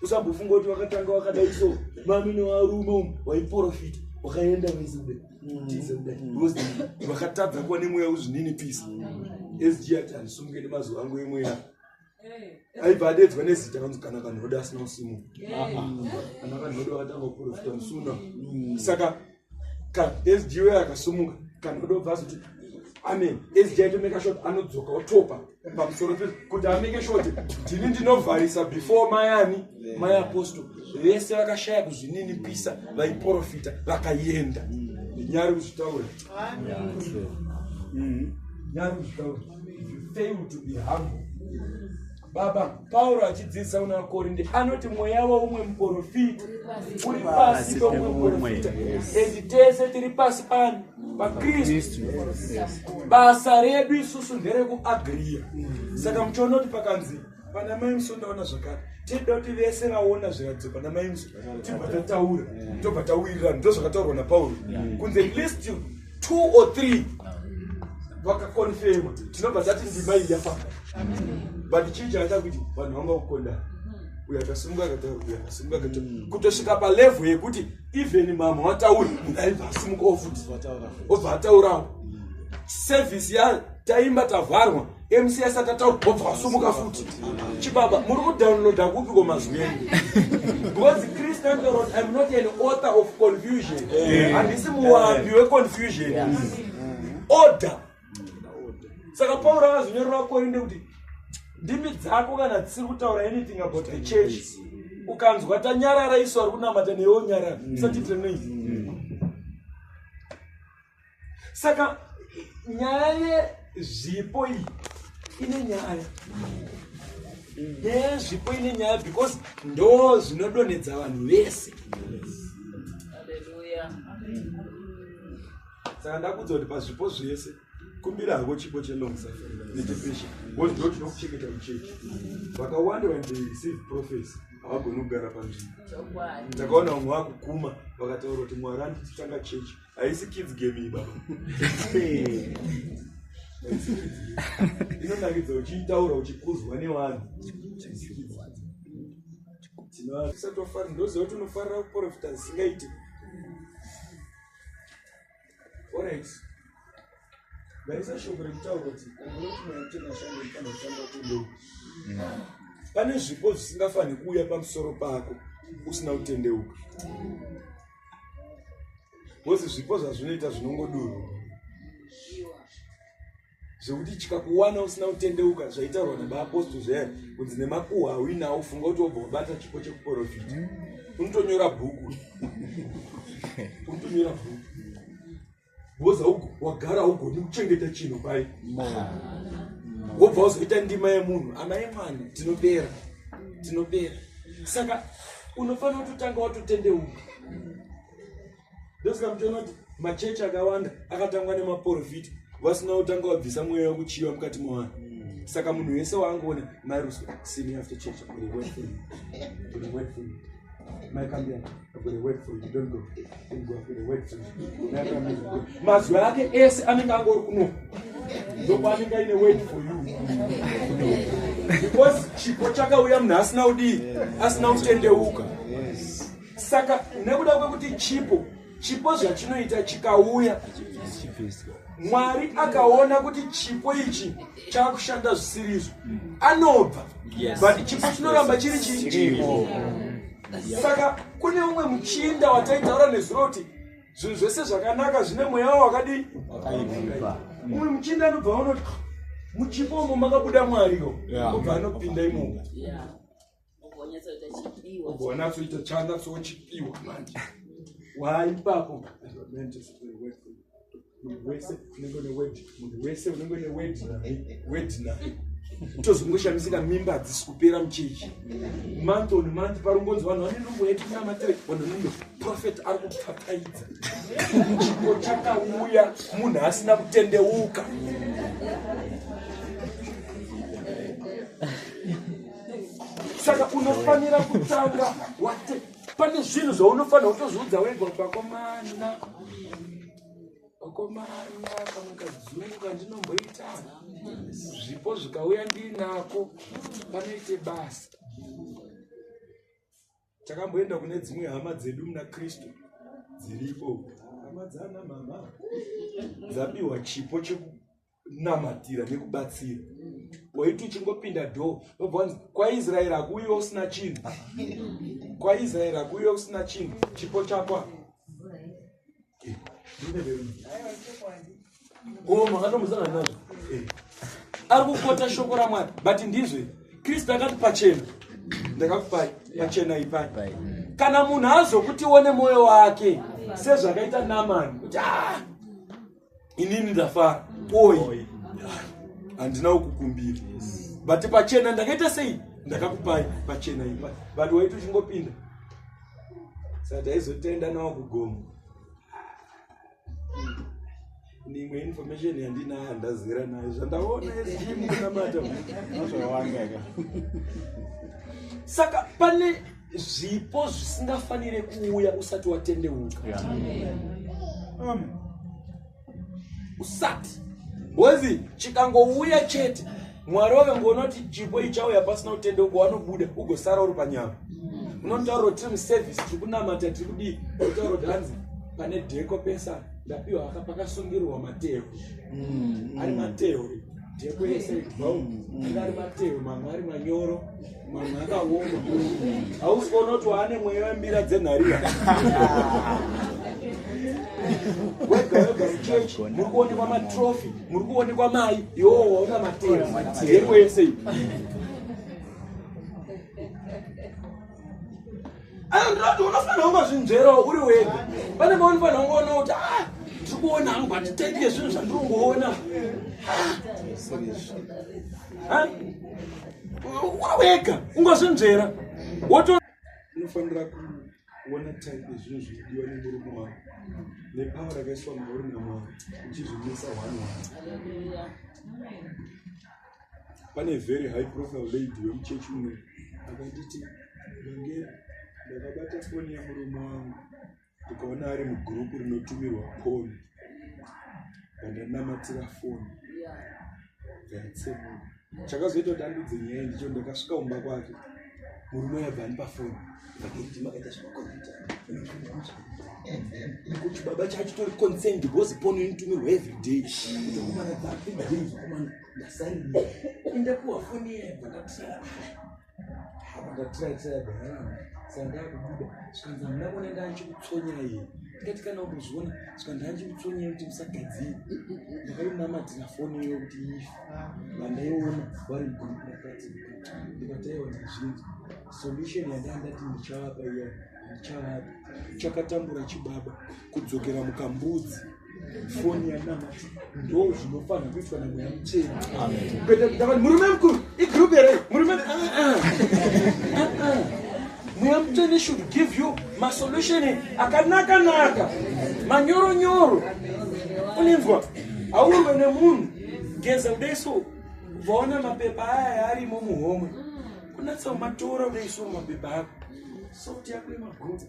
usambofunga kuti vakatanga vakadai so mami nevarume umu vaiprofita wakaenda vezude vakatadza kuva nemweya uzvinini pisi sg ati handisumuke nemazuva angu emweya aibva adeedzwa nezita anonzi kana vanhu voda asina usimu kana vanhu voda vakatanga kuprofita musuna mm. saka sgo akasumuka kana voda obva azoti amen sgo aitomeka shot anodzoka otopa pamusoro pe kuti ameke shot ndini ndinovharisa before mayani mai apostle vese vakashaya kuzvininipisa vaiprofita vakaenda mm. nyari kuzvitaura nyari kuzvitaura if you fail to be humble baba pauro achidzidzisa kuna vakorinde anoti mweya weumwe muprofita uri pasi peumwe muprofita and tese tiri pasi pani pakristu basa redu isusu nderekuagriya saka muchiona kuti pakanzi pana mai musi ndaona zvakare tinoda kuti vese vaona zviratidzo pana mai musi tibva tataura tobva tawirirana ndo zvakataurwa napauro kunze list two or three vakakonfema tinobva tati ndima iyi yafaka but chii chakaita kuti vanhu vanga kukondana uyo akasimuka akata uyo akasimuka akata mm. kutosvika palevel yekuti even mama watauri munhu aibva asimukawo futi obva ataurawo mm. service ya taimba tavharwa MC asati ataura wobva wasumuka futi chibaba muri kudownloada kupi kwemazwi enyu because christian dorot im not an author of confusion handisi muwapi weconfusion order saka pauro akazonyorera vakorinde kuti ndimi dzako kana dzisiri kutaura anything about the church ukanzwa tanyarara isu ari kunamata newe onyarara usatiitire noise saka nyaya yezvipo iyi ine nyaya yezvipo ine nyaya because ndo zvinodonhedza vanhu vese saka ndakudza kuti pazvipo zvese kumbira hako chipo chelong suffering nedepression bcause ndo tinokucheketa muchechi vakawanda when they receive prophecy havagoni kugara panzvimbo ndakaona vamwe vakukuma vakataura kuti mwari andititanga chechi haisi kids game iyi baba inonakidza uchiitaura uchikuzwa nevanhu tinoaisatofara ndoziva kuti unofarira kuprofita zisingaiti orit vaisa shoko rekutaura kuti anotinashando ifana kutanga kundou pane zvipo zvisingafanhi kuuya pamusoro pako usina kutendeuka bcause zvipo zvazvinoita zvinongodurwa zvekuti chikakuwana usina kutendeuka zvaitaurwa nabaaposto zvaye kunzi nemakuhwa auinawo funga kuti wobva wabata chipo chekuporofita unotonyora bhuku unotonyora bhuku woza wagara ugoni kuchengeta chinhu pai wobva wazoita ndima yemunhu ana emwana tinobera tinobera saka unofanira kutotanga watotendeuka ndosaka mutoona kuti machechi akawanda akatangwa nemaporofiti vasina kutanga wabvisa mweya wekuchiva mukati mwavanhu saka munhu wese waangoona mairuswa sini after church mazwi ake ese anenge angori kuno ndokwanenge aine word for you because chipo chakauya munhu asina udii asina kutendeuka saka nekuda kwekuti chipo chipo zvachinoita chikauya mwari akaona kuti chipo ichi chakushanda zvisiri izvo anobva but chipo chinoramba chiri chii saka kune umwe muchinda wataitaura nezuro kuti zvinhu zvese zvakanaka zvine mweya wavo wakadii umwe muchinda anobva vanoti muchipo umo makabuda mwariwo obva anopinda imomo ugonatsoita chanatsochipiwa manje waipapo munhu wese unenge une wed munhu wese unenge une wed wed naye tozongoshamisika mimba hadzisi kupera muchechi month on month parungonzi vanhu vane nungo yetinyamatere vanhu nungo profet ari kupfataidza chipo chakauya munhu asina kutendeuka saka unofanira kutanga wate pane zvinhu zvaunofanira kutozviudza wega kuti vakomana vakomana kamwe kadzungu kandinomboita zvipo zvikauya ndiinako panoite basa takamboenda kune dzimwe hama dzedu muna kristu dziripo hama dzana mama dzapiwa chipo chekuu namatira nekubatsira waiti uchingopinda dho vobva vanzi kwaisraeri hakuuyiwe usina chinhu kwaisraeri hakuuyiwe usina chinhu chipo chakwa o makatombosangana nazvo eh. ari kukota shoko ramwari but ndizve kristu akati pachena ndakakupai pachena ipai kana munhu azokuti one mwoyo wake sezvakaita namani kuti ah! inini ndafara oyi handina ukukumbira but pachena ndakaita sei ndakakupai pachena ipa but waiti uchingopinda saka taizotenda nawo kugomo nimwe information yandina handazera nayo zvandaona ezimunamata saka pane zvipo zvisingafanire kuuya usati watendeuka usati wezi chikangouya chete mwari wakangoona kuti chipo ichauya pasina kutendeuka wanobuda ugosara uri panyama unotaura kuti tiri muservice tiri kunamata tiri kudii unotaura kuti hanzi pane dheko pesa ndapiwa aka pakasungirwa matehwe mm. ari matehwe dheko yese ibvaunga mm. ari matehwe mamwe ari manyoro Mwana akaoma. Hausi kuona kuti waane mweya wembira dzenharira. wega wega muchechi muri kuonekwa matrofi muri kuonekwa mai iwowo waona matero yeko yese iyi anondirati unofanira kungozvinzverawo uri wega pane maunifanira kungoona kuti ah, tiri kuona hangu vatitendike zvinhu zvandiri kungoona ah, uri wega ungozvinzvera woto unofanira kuona type yezvinhu zvinodiwa nemurume wako nepawa rakaiswa mauri namwari uchizvimisa hwani hwani pane very high profile lady wemuchechi muno akanditi ndange ndakabata foni yemurume wangu ndikaona ari mugurupu rinotumirwa poni vandanamatira foni yatsemuka chakazoita kuti andudze nyaya ndicho ndakasvika kumba kwake murume yabva anipa foni vakiriti makaita zvemakoneta nekuti baba chacho tori concerned because pono initumirwa every day ndokumana dzapi ndadei zvokumana ndasaini inde kuwa foni iye bvakakusara havatatiraitira bhaana sandakubuda zvikanzi hamuna kuona ndanchikutsonyai iye ndikati kana ukuzviona zvikanzi ndanchikutsonyai kuti musagadzii ndakaimamatira foni iyo kuti ife vandaiona vari mgurukati ndikataiwa ndizvinzi solution yandaa ndati ndichawapa iya ndichawapa chakatambura chibaba kudzokera mukambudzi foni yanamati ndo zvinofanira kuitwa namweya muchena ndakati murume mukuru igroup here murume ah, ah. ah, mweya muchene should give you masolution akanaka naka manyoro nyoro uninzwa aurwe nemunhu geza kudai so vaona mapepa aya arimo muhomwe kunatsa umatora unoiswa mumapepa ako sauti yako yemagogo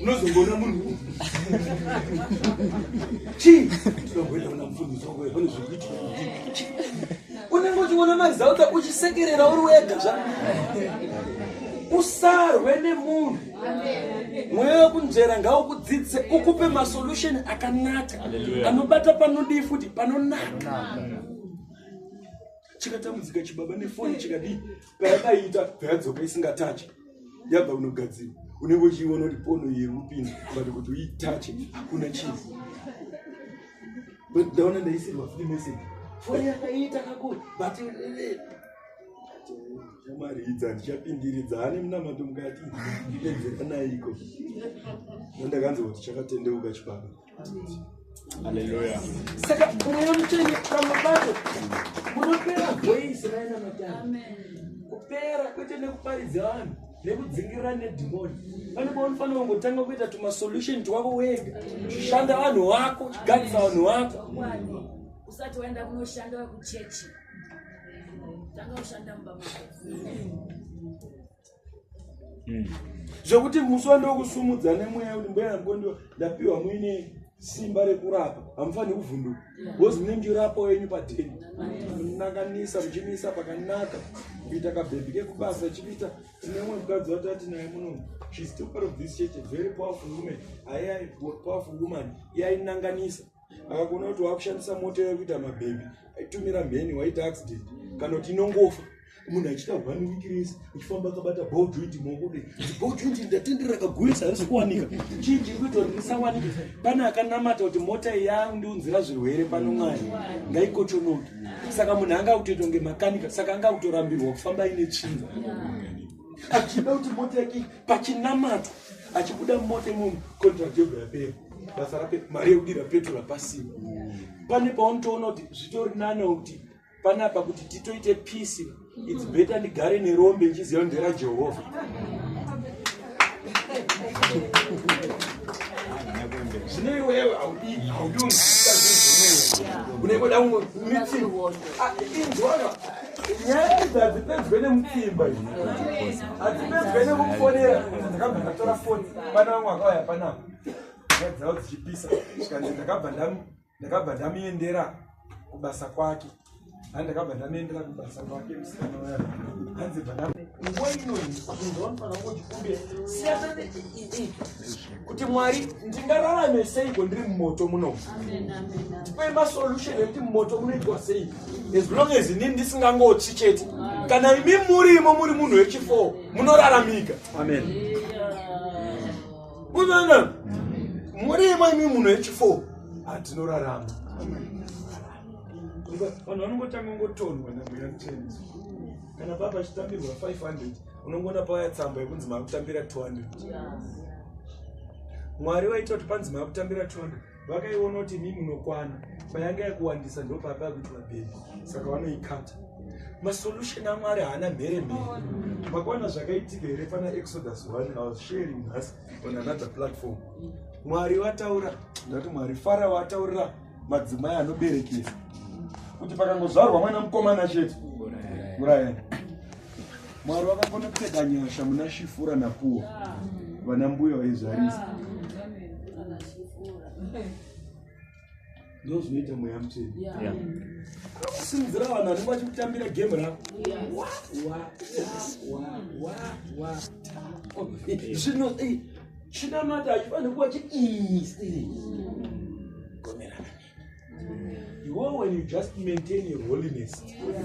unozongoona munhu chii tinogoenda kuna mufundisi wako pane zvekuitika unenge uchiona mazauta uchisekerera uri wega zva usarwe nemunhu mweya wekunzvera ngaukudzidzise ukupe masolution akanaka anobata panodii futi panonaka chikatambudzika chibaba nefoni chikadii payadaiita payadzoka isingatache yabva unogadzira unenge uchiiona kuti pono yekupinda but kuti uitache hakuna chinhu but ndaona ndaisirwa free message foni yakaiita kakuru but eh, eh, ndichamwaridza ndichapindiridza ane munamato mukati ndipedzeranaiko andakanzi kuti chakatendeuka chipano aleluya saka mweya mutsvene pamwe pacho munopera voisi vaina matano kupera kwete nekuparidza vanhu nekudzingirira nedhimoni pane paunofanira kungotanga kuita tumasolution twako wega shanda vanhu wako gadzisa vanhu wako usati waenda kunoshanda vekuchechi Hmm. zvekuti musi wandokusumudza nemweya kuti mbuya namukondo ndapiwa muine simba rekurapa hamufaniri kuvhunduka bcoz mune ndirapo yenyu pateni munakanisa muchimiisa pakanaka kuita kabhebhi kekubasa chikuita tine umwe mukadzi watati naye muno shes too part of this church very powerful woman aia powerful woman yainanganisa akakuona kuti wakushandisa mota yave kuita mabhebi aitumira mheni waita accident kana kuti inongofa munhu achita one week rese uchifamba akabata ball joint maokode ball joint ndatendera kagurisa harisi kuwanika chii chiri kuita kuti ndisawanike pane akanamata kuti mota yangu ndiunzira zvirwere pano mwari ngaikochonoke saka munhu anga kutoita kunge makanika saka anga kutorambirwa kufamba ine tsvinza achida kuti mota yake pachinamatwa achibuda mota imomo contract yoga yapera basa rape mari yekudira petrol hapasina pane paunotoona kuti zvitori nane kuti panapa kuti titoite peace its better ndigare nerombe ndichiziva ndera jehovha zvine iwewe haudii haudii unenge uda kungomitsi inzwaka nyaya idzi hadzipedzwe nemutsimba i hadzipedzwe nekufonera ndakabva ndatora foni pana vamwe vakauya panapa nyaya dzavo dzichipisa zvikanzi ndakabva ndamuendera kubasa kwake ani ndakabva ndamuendera kubasa kwake musikana waya hanzi bva nguva inoyi ndinofanira kuti kumbe siyana kuti mwari ndingararame seiko ndiri mumoto muno tipe masolution ekuti mumoto munoitwa sei as long as inini ndisingangotsi chete kana imi murimo muri munhu wechifo munoraramika amen unoona murimo imi munhu wechifo hatinorarama vanhu vanongotanga ngotonwa namweya muteni kana baba chitambirwa 500 unongoona pawaya tsamba yekunzi makutambira 200 mwari vaita kuti panzi makutambira 200 vakaiona kuti mi munokwana payanga yakuwandisa ndopapa yakuti vabheri saka vanoikata masolution amwari haana mhere mhere makwana zvakaitika here pana exodus one i was sharing nhasi on another platform mwari vataura ndati mwari fara vataurira madzimai anoberekesa kuti pakangozvarwa mwana mukomana chete murayani Mwari vakakona kupfeka nyasha muna Shifura na Puwa. Vana mbuya vaizvarisa. Ndozoita mweya mutini. Yeah. Simudzira vanhu vanenge vachikutambira game rako. Wa wa wa wa wa wa. Zvino eh chinamata achifana kuva chi Iwo when you just maintain your holiness,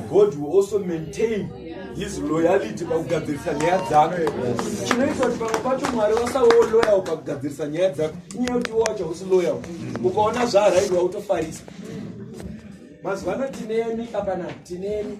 God will also maintain his loyalty pakugadzirisa nyaya dzako. Chinoita kuti pamwe pacho Mwari vasawo loyal pakugadzirisa nyaya dzako. Inyaya kuti iwo wacho hausi loyal. Ukaona zvaarairwa utofarisa. Mazuva ano tinemi apana tinemi.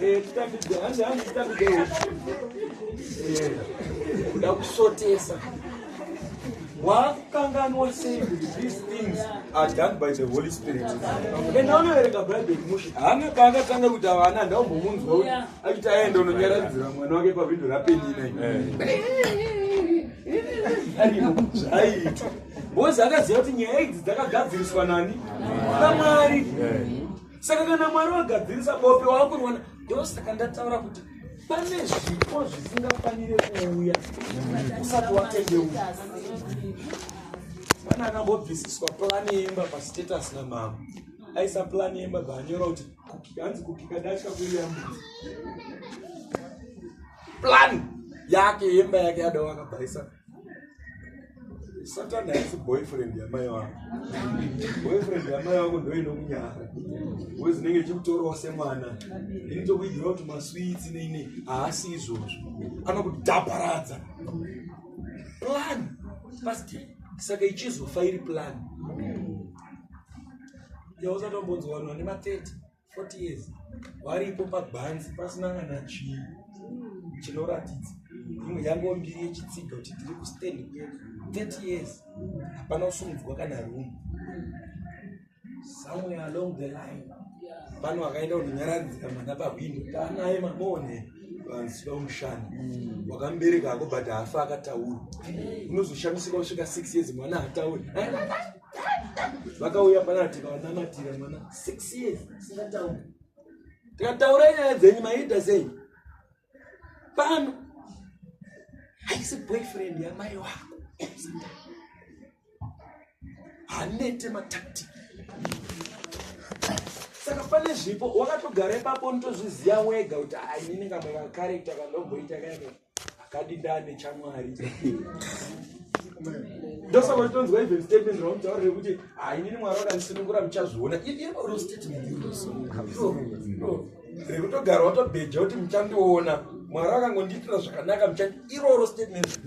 Eh, ndakusotesa wakukanganwa sei kuti these things are done by the holy spirit enda unoverenga bhaibheri mushe haana paakatanga kuti avana ndaumbomunzwa kuti achiti aenda unonyaradzira mwana wake pavhindo rapenina aiitwa Bozi akaziva kuti nyaya idzi dzakagadziriswa nani namwari saka kana mwari wagadzirisa bope waakuriwana ndosaka ndataura kuti pane zvipo zvisingafanire kuuya usati watendeuka pana akambobvisiswa plani yemba pastatus namama aisa plani yemba baanyora kuti hanzi kukika dasha kuuya mbuzi plani yake yemba yake yadawakabhaisa satani haisi boyfriend yamai wako boyfriend yamai wako ndoinokunyara we zinenge chikutorawo semwana ini tokuigira kuti maswitsi neine haasi izvozvo anokudhaparadza plan past saka ichizofa iri plan yausatombonzwanwa nema 30 40 years varipo pagwanzi pasina kana chii chinoratidza imwe yango mbiri yechitsiga kuti tiri kustand kwe 30 years hapana kusumudzwa kana room somewhere along the line pano akaenda kunonyaradzika mwana pahwindo taanaye mabone vanziva umushana mm. wakambereka ako but hafa akataura unozoshamisika kusvika 6 years mwana hatauri vakauya panaa tikavanamatira mwana six years singataura tikataura nyaya dzenyu maiita sei pano haisi boyfriend yamai wako hanete matactic saka pane zvipo wakatogara ipapo nitozviziva wega kuti ainini kamwe kacarecta kandomboita kae akadindane chamwari ndosaka uchitonzwa even statement rauntaura rekuti hainini ah, mwari wakandisunungura muchazviona iroro statement rekutogara watobheja kuti muchandiona mwari akangondiitira zvakanaka muchandi iroro statement